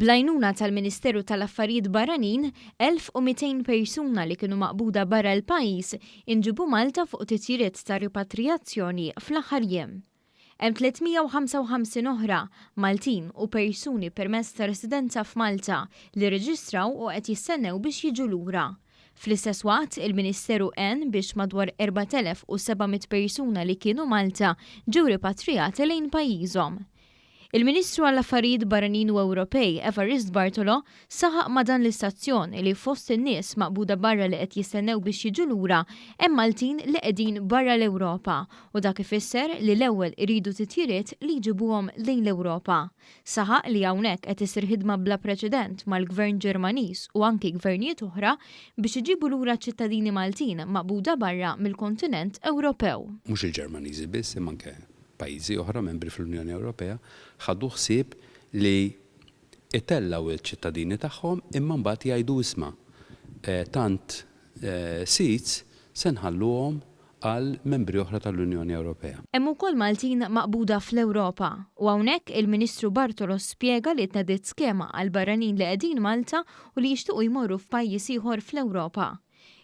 Bl-għajnuna tal-Ministeru tal-Affarijiet Barranin, 1,200 persuna li kienu maqbuda barra l-pajjiż inġiebu Malta fuq titjiriet ta' ripatrijazzjoni fl-aħħar jiem. Hemm 355 oħra, Maltin u persuni permess ta' residenza f'Malta, li rreġistraw u qed jistennew biex jiġu lura. Fl-istess waqt, il-Ministeru għen biex madwar 4,700 persuna li kienu Malta ġew ripatrijati lejn pajjiżhom. Il-Ministru għall-Affarijiet Barranin u Ewropej, Evarist Bartolo, saħaq ma' dan l-istazzjon li fost in-nies maqbuda barra li qed jistennew biex jiġu lura hemm Maltin li qegħdin barra l-Ewropa u dak ifisser li l-ewwel iridu titjiriet li jġibuhom lejn l-Ewropa. Saħaq li hawnhekk qed issir ħidma bla preċedent mal-Gvern Ġermaniż u anki Gvernijiet oħra biex iġibu lura ċ-ċittadini Maltin maqbuda barra mill-kontinent Ewropew. Mhux il-Ġermaniżi biss imma anke pajjiżi oħra membri fl-Unjoni Ewropea ħadu ħsieb li itellgħu ċ-ċittadini tagħhom imma mbagħad jgħidu isma' tant seats se nħalluhom għal membri oħra tal-Unjoni Ewropea. Hemm ukoll Maltin maqbuda fl-Ewropa u hawnhekk il-Ministru Bartolo spjega li tnediet skema għal barranin li qegħdin Malta u li jixtiequ jmorru f'pajjiż ieħor fl-Ewropa.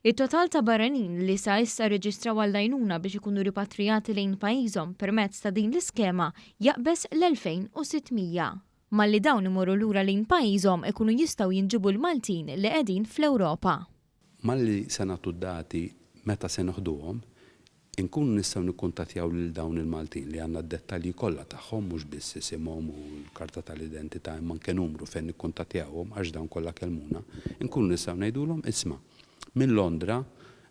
It-total ta' barranin li sa issa rreġistraw għall-għajnuna biex ikunu ripatrijati lejn pajjiżhom permezz ta' din l-iskema jaqbeż l-2,600. Malli dawn imorru lura lejn pajjiżhom ikunu jistgħu jinġibu l-Maltin li qegħdin fl-Ewropa. Malli se nagħtu d-dati meta se noħduhom, inkunu nistgħu nikkuntattjaw lil dawn il-Maltin li għandna d-dettalji kollha tagħhom, mhux biss isimhom u l-karta tal-identità imma anke numru fejn nikkuntattjawhom għax dawn kollha kellmuna, inkunu nistgħu ngħidulhom, isma', minn Londra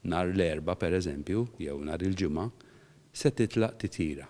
nhar l-Erbgħa pereżempju jew nhar il-Ġimgħa se titlaq titjira